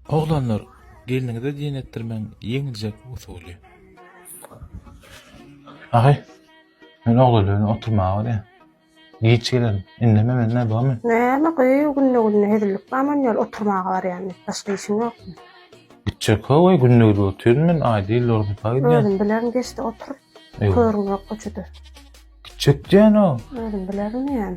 Oglanlar gelniňize jeň etdirmeň ýeňiljek usuly. Ahy, men oglanlar bilen oturmaga barýan. Giç gelerin. Indeme mende bormy? Näme gyýw, günde-günde hezillik bamy ony ýaly oturmaga barýan diýip, başga işiň ýokmy? Gitjek howa, günde gidip otyryn men, aý diýil Lornpa gidýän. Özüm bilerin geç-de otur. Körüň ýokka juda. Gitjek diýýän-ow. Özüm bilerin diýýän.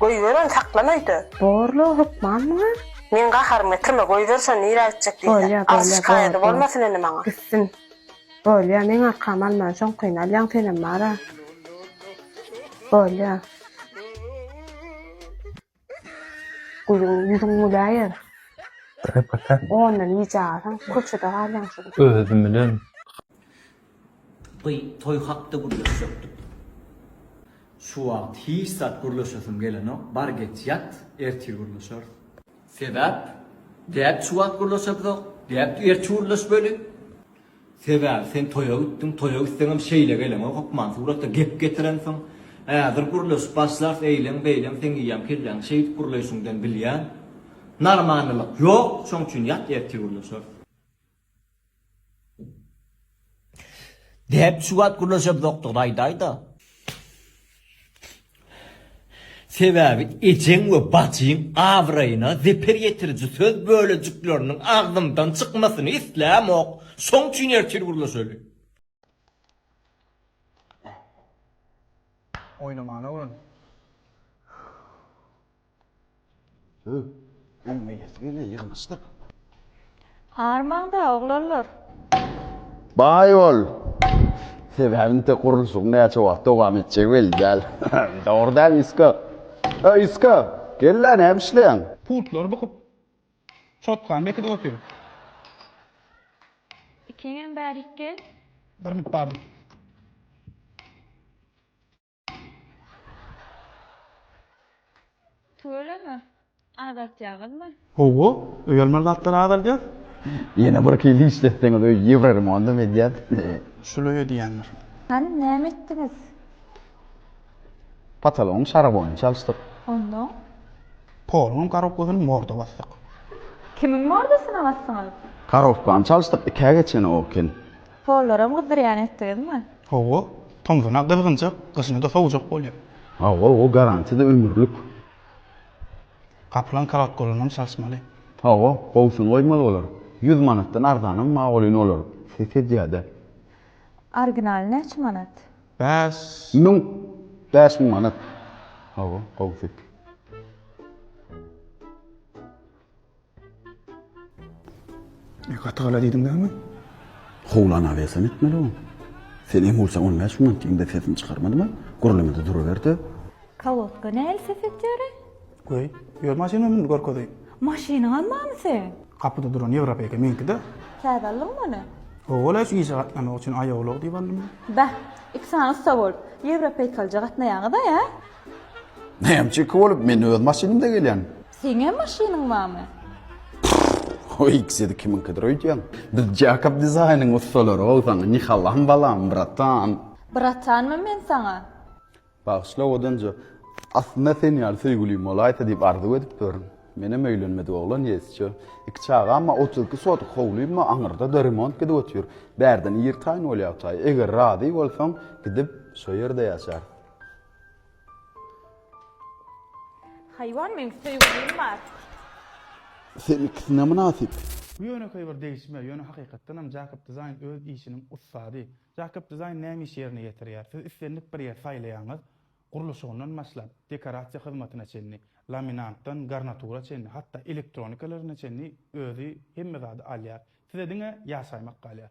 Goýber ony saklan öýde. Borla hökman muňa. Meň gaharymy getirme goýber şony nirä gitjek diýsä. Arz şikaýady bolmasyn indi maňa. Gitsin. Bolýa meň arkamy alman şoňkyny alýaň senem bara. Bolýa. Gülüň ýüzüň güläýer. Ondan ýeje alsaň köçede galýaň şuň. Özüm bilen. By toý hakda gürleşjekdik. Şu wagt hiç zat gürleşesim gelenok, bar geç ýat, ertir gürleşeris. Sebäp? Däp şu wagt gürleşebizok, däp ertir gürleşmeli. Sebäbi sen toýa gitdiň, toýa gitseňem şeýle geleňok hökman suratda gep getirensiň. Häzir gürleşip başlarys eýleň, beýleň seň iýen kelläňi şeýdip gürleýşiňden bilýän. Narmanlylyk ýok, şoň üçin ýat ertir gürleşeris. Däp şu wagt gürleşemzokdygyny aýdaýda. Sebäbi ejeň we bajyň abraýyna zeper ýetiriji söz bölejikleriniň agzymdan çykmasyny islämok. Şoň üçin ertir gürleşeli. Oýnamana öwren. Hü, öňmeýesi gelýär, ýygnaşdyk. Armaň-da, oglanlar. Baý bol! Sebäbi inte gurluşygyň näçe wagt dowam etjegi belli däl. Dogry dälmi, Isko? Öý, Isko! Gel-le, näme işleýäň? Putlary bukup, çotgany bekidip otyryn. Ikiňem bärik gel. Bir müt bardyr. Tüweleme, azaltýaňyzmy? Hawa, öýelmeli zatlary azaldýas. Ýene bir hili işletseňiz öý ýewroremondam edýäs. Şul öýe diýýändir. Hany, näme etdiňiz? Potologyň şaraboýuny çalyşdyk. Onnoň? Poluň garowkasyny morda basdyk. Kimiň mordasyna basdyňyz? Garowkany çalyşdyk, ikä geçeni o eken. Hollaram gyzdyrýan etdiňizmi? Hawa, tomzuna gyzgynjak, gyşyna-da sowujak bolýar. Hawa, o garantiýa-da ömürlik. Gapylan korotkolynam çalyşmaly. Hawa, gowusyny goýmaly bolar. Ýüz manatdan arzanam magolin olar, ses edýär-dä. Originaly näçe manat? Bäş müň. Bäş müň manat. Hawa, gowusy. Gaty gala diýdiň dämi? Howlana bersen etmeli oň. Sen iň bolsa on bäş minut diýiňde sesini çykarmadyma, gürlemede duraberde. Kolotka nähili ses etýäre? Goý, ýör maşynyma mündi görkezeýin. Maşynyňam barmy seň? Gapyda duran Ýewropa eken meňkide. Täze aldyňmy ony? Owaw-la şu işe gatnamak üçin aýawlag diýip aldym. Bäh, iki sany ussa bolup, ýewropeýkalyja gatnaýaňyz-a, ýa? Näme çeki bolup men öz maşynymda gelýän. Seňem maşynyň barmy? Prrrr o ikisidi kimiňkidir öýdýäň. Biz Jakob dizaýnyň ussalary gowy saňa nihalam balam bratan. Bratanmy men saňa? Bagyşla owadanjo. Aslynda sen ýaly söýgülim bolaýsa diýip arzuw edip durun. Menem öýlenmedik oglan ýesjo. Iki çagam bar otuz iki sotik howlym bar aňyrdada remont gidip otyr. Bärden ir taýyn bolýartaý. Eger razy bolsaň gidip şo ýerde ýaşarys. Haýwan meň söýgülim bar. Senikisine mynasyp. Bu ýönekeý bir degişme, ýöne hakykatdan hem Jakob Design öz işiniň ussady. Jakob Design näme iş ýerine ýetirýär? Siz islendik bir ýer saýlaýaňyz, gurluşygyndan başlap, dekorasiýa hyzmatyna çenli, laminantdan garnatura çenli, hatda elektronikalaryna çenli özi hemme zady alýar. Size diňe ýaşaýmak galýar.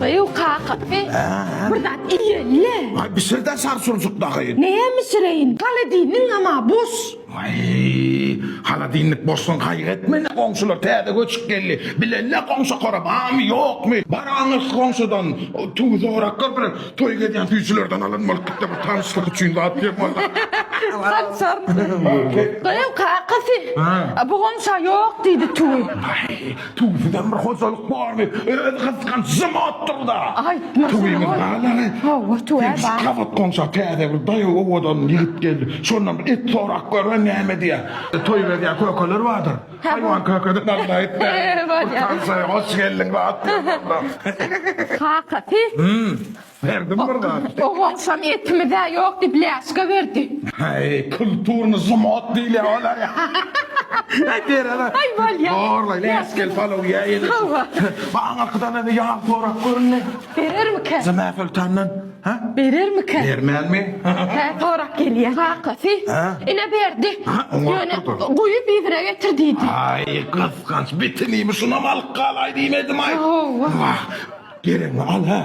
Baýew kaka, e, bir zat iýeli. Ay bisir de sarsuncuk dagy. Näme bisireýin? Holodilniňem-a boş. Ay, holodilnik boşsun gaýgy etme-le, goňşular täze göçüp geldi. Bile-le goňşy-kora barmy, ýokmy? Baraňyz goňşudan tüwi zoraklar bilen toý gezýän süýjülerden alan bolupdyk-da, bir tanyşlyk üçin zat diýen bolsa. Haçan? Baýew kakasy, a bu goňşy-a ýok diýdi tüwi. Tüwi sizem bir hojalyk barmy? Özi gysganç jym otyrda. Aýtma Tüwimiz şuny. galany. Hawa, tüwä Hem şu bar. gabat goňşa täze bir daýaw owadan ýigit geldi. Şondan bir et sorap görlen näme diýýär. Toý berýär kökeler bardyr. Haýwan kökedi nazar etmän. Bolýar. Tansaýa hoş geldiň zat diýýär. Kaka siz Ferdi bir zat. O goçam etimiz-ä ýok diýip läşga berdi. Heý, kulturny zumot diýilýä olar. Heý, berene. Heý, bolýa. Horlaý, läşgel palaw ýä ýene. Hawa. Baý, aňyrkydan ene ýag sorap göründe. Berermikä? Zina Soltandan. Hä? Berermikä? Bermänmi? Hä, sorap gelýä. Kakasy. Hä? Ine berdi. Hä, oňa Ýöne oturdym. guýup yzyna getir diýdi. Aý, gysganç, bitinimi şunam alyp galaý diýmedim-aý. Hawa. Wah. Geregiňi al hä?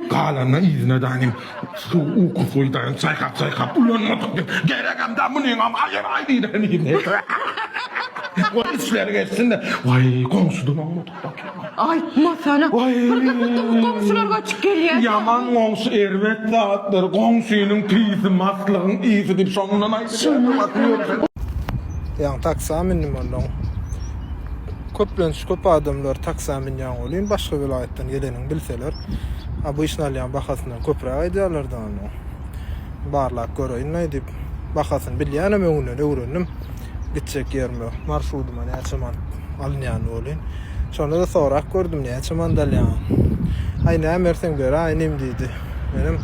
Galanyny yzyna daýyn. Suw ukusyz daýyn çaýkap-çaýkap ulanmadyk diýip, geregem-de munyňam agyr-aý diýdäýin. Goý işleri geçsin-de. Waý, goňşudan oňmadyk daky. Aýtmasana. Waý. Bir gysydygy goňşular göçüp gelýär. Ýaman goňşy erbet zatdyr. Goňşynyň tüýsi maslygyň ysy diýip şondan aýdylýar. Şondan aýdylýar. Ýaňy taksä mündim onnoň. Köplenç köp adamlar taksa münýän welin başga welaýatdan gelenini bilseler obyçny alýan bahasyndan köpräk aýdýarlar da onda barlap göreýin aýdyp bahasyny bilýänem öňünden öwrendim gitjek ýerime marşrudyma näçe manat alynýany welin şonda-da sorap gördüm näçe manat alýaň aý näme berseň beraý inim diýdi. Menem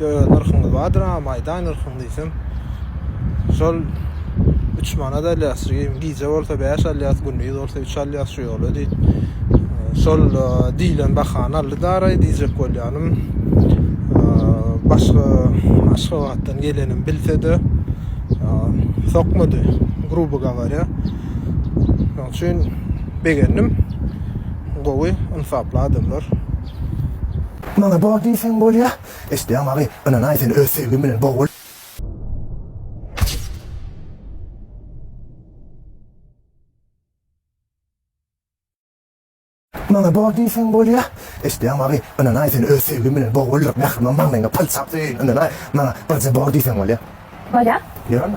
ýok öz nyrhyňyz bardyr agam aýdaý nyrhyňy diýsem şol üç manat alýas gije bolsa bäş alýas gündiz bolsa üç alýas şu ýola diý şol diýlen bahany aldy daraý diýjek bolýanym başga aşgabatdan gelenim bilsede sokmady grubo gawarýa şoň üçin begendim gowy ynsaply adamlar Maňa bor diýseň bolýa. Eşdýäň maňy, ynanaý seni öz söýgim bilen bogul. Maňa bor diýseň bolýa. Eşdýäň maňy, ynanaý seni öz söýgim bilen boguldyryp mähriban bagnyňa palçap söýeýin ynanaý maňa birje bor diýseň bolýa. Bolýa. Ýörme.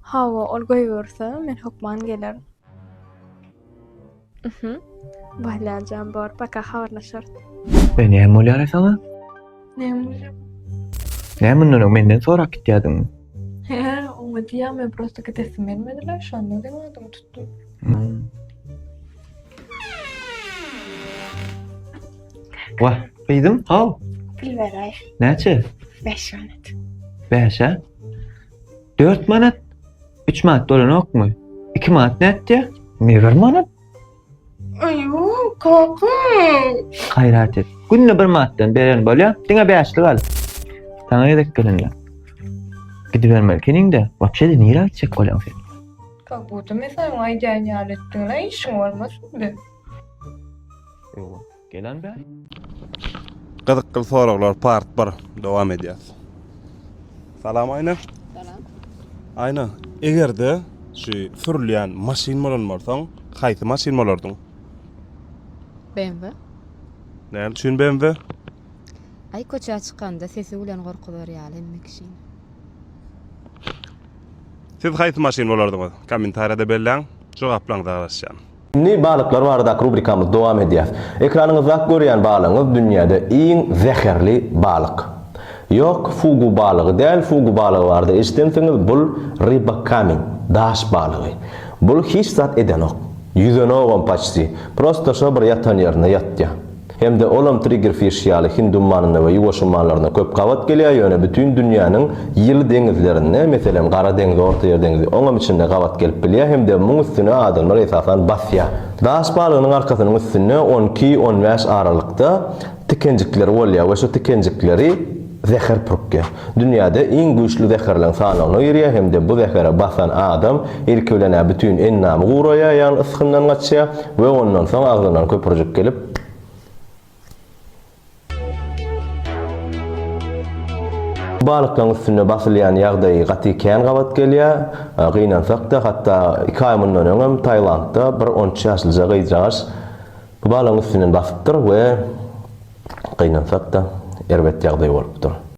Hawa, ol goýberse, men hökman gelerin. Uhuh. Bolýar jan, bor, paka habarlaşarys. Be, näme bolýar-a saňa? Näme bolýar? Näme mundan öň menden sorap gitýärdiňmi? He, oňa diýýän, men prosta gidesim gelmedi-le, şonda seniň adyňy tutdum. Hum. Wah, gyzym, how? Pul beräý. Näçe? Bäş manat. Bäş-ä? Dört manat, üç manat dolanokmy? Iki manat nätdi? Ne bir manat? Aýo, kaka. Gaýrat et. Günde bir manatdan beren bolýa, diňe bäşlik al. Saňa gezek gelende. Gidibermeli keniňde, wapşe de nirä gitjek bolýaň sen? Kak buda mesaň aýdýan ýaly etdiň-le, işiň bolmasyndy? Ýoga. Gelen bäý. Gyzykly soraglar part 1 dowam edýär. Salam Aýna. Salam. Aýna, egerde şu sürülýän maşyn bolan bolsaň, haýsy maşyn bolardyň? BMW. Näme üçin BMW? Aý köçä çykanda sesi bilen gorkuzar ýaly hemme kişini. Siz haýsy maşyn bolardyňyz? Kommentariýada belläň, jogaplaryňyza garaşýan. Indi balyklar baradaky rubrikamyzy dowam edýäs. Ekranyňyzdaky görýän balygyňyz dünýäde iň zäherli balyk. Ýok, fugu balygy däl, fugu balygy barada eşidensiňiz, bul ryba kamin, daş balygy. Bul hiç zat edenok. Ýüzenogam paçti. Prosto şo bir ýatan ýerinde ýatýa. Hem-de olam triggerfish ýaly Hind ummanynda we Ýuwaş ummanlarynda köp gabat gelýär, ýöne bütin dünýäniň ýyly deňizlerinde, meselem, Gara deňiz, Ortaýer deňizi, oňam içinde gabat gelip bilýär hem-de muň üstüne adamlar esasan basýar. Daş balygynyň arkasynyň üstünde on iki, on bäş aralykda tikenjikleri bolýar we şu tikenjikleri, Zäher pürkýär. Dünýäde iň güýçli zäherleň sanawyna girýär hem-de bu zähere basan adam ilki bilen-ä bütin endamy guraýar, ýagny ysgyndan gaçýar we ondan soň agzyndan köpürjik gelip, balyklaň üstüne basylýan ýagdaýy gaty kän gabat gelýär, gynansak-da, hatda iki aý mundan öňem Tailandda bir on üç ýaşlyja gyzjagaş, Bu balaň üstünden basypdyr we gynansak-da erbet ýagdaý bolupdyr.